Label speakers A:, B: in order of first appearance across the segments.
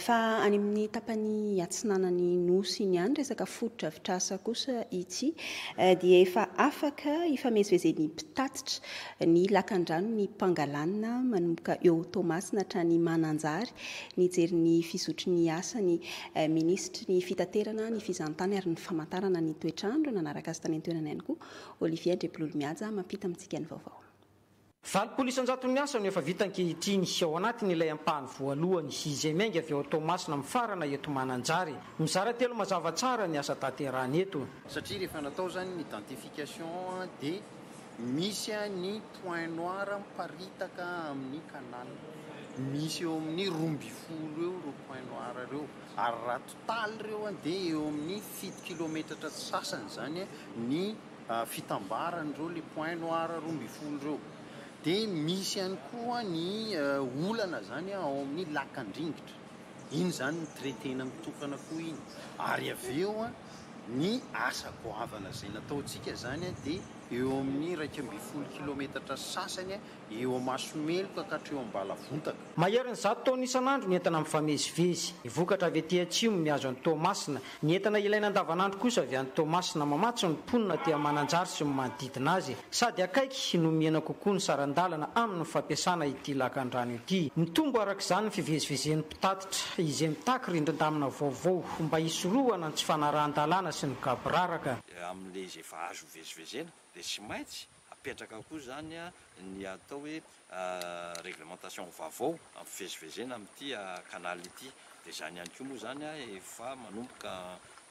A: Fa any amin'ny tapany atsinanan'ny Nosy iny ihany resaka fotodrafitrasa kosa ity dia efa afaka ifamezivezen'ny mpitatitra ny lakandranon'ny Pangalanina manomboka eo Toamasina hatrany Mananjary nijery ny fizotry ny asany Minisitry ny Fitaterana, ny Fizahantany ary ny Famantarana ny toetr'andro nanaraka azy tany an-toerana ihany koa Olivier Andriampilolomihaja mampita amintsika ny vaovao. Valopolo
B: isan-jato ny asa no efa vita ankehitriny, ao anatiny ilay ampahany voalohany, izay miainga avy ao Toamasina mifarana eto Mananjary. Mizara telo mazava tsara ny asa tanterahana eto. Satria rehefa natao
C: izany ny densification dia misy ny point noir miparitaka amin'ny canal. Misy eo amin'ny roa ambin'ny folo eo ireo point noir ireo, ary raha total ireo dia eo amin'ny fito kilometatra sy sasany izany ny. fitambarany ireo le point noir roa ambin'ny folo ireo de misy ihany koa ny olana zany a ao amin'ny lakan-dringitra iny zany ny traitena mitokana koa iny ary avy eo a ny asa goavana izay nataontsika zany a de eo amin'ny iraika ambin'ny folo kilometatra sasany Eo amaso meloka ka hatreo am-balavontaka. Maherin'ny zato taona
B: isan'andro ny entana mifamezivezy. Ny vokatra avy aty atsimo mihazo an'i Toamasina. Ny entana ilaina andavanandro kosa avy any Toamasina. Mamatsy ny mponina aty Mananjary sy ny manodidina azy. Sady akaiky no mihena kokoa ny saran-dalana amin'ny fampiasana ity lakandrano ity. Mitombo araka izany ny fivezivezen'ny mpitatitra, izay mitaky rindrin-damina vaovao mba hisorohana ny tsy fanarahan-dalàna sy ny gaboraraka. Amin'ilay izay efa
D: azo ivezivezena dia tsy maintsy Apetraka koa izany ny atao hoe réglementation vaovao hampivezivezena amin'ity canal ity. Dia izany ihany koa moa izany efa manomboka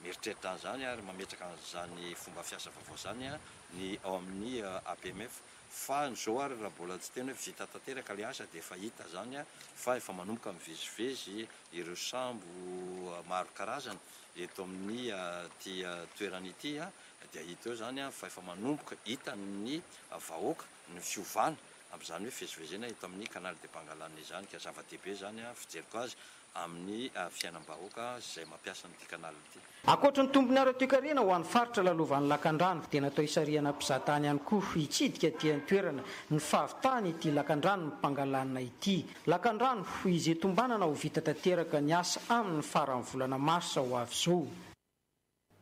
D: mieritreritra an'izany ary mametraka an'izany fomba fiasa vaovao izany ny ao amin'ny APMF. Fa izao ary raha mbola tsy tena hoe vita tanteraka ilay asa dia efa hita izany fa efa manomboka mivezivezy ireo sambo maro karazana eto amin'ity toerana ity Dia hita eo izany fa efa manomboka hitan'ny vahoaka ny fiovana amin'izany hoe fivezivezena eto amin'ny Canal de Pangalane izany ka zava-dehibe izany fijeriko azy amin'ny fiainam-bahoaka sy izay mampiasa an'ity canal ity. Ankoatra ny tombony
B: ara-toekarena ho an'ny faritra lalovan'ny lakandrano dia natao hisarihana mpizatany ihany koa hitsidika aty an-toerana ny fahavitany ity lakandranon'i Pangalane ity. Lakandrano izay tombanana ho vita tanteraka ny asa aminy ny faran'ny volana marsa ho avy izao.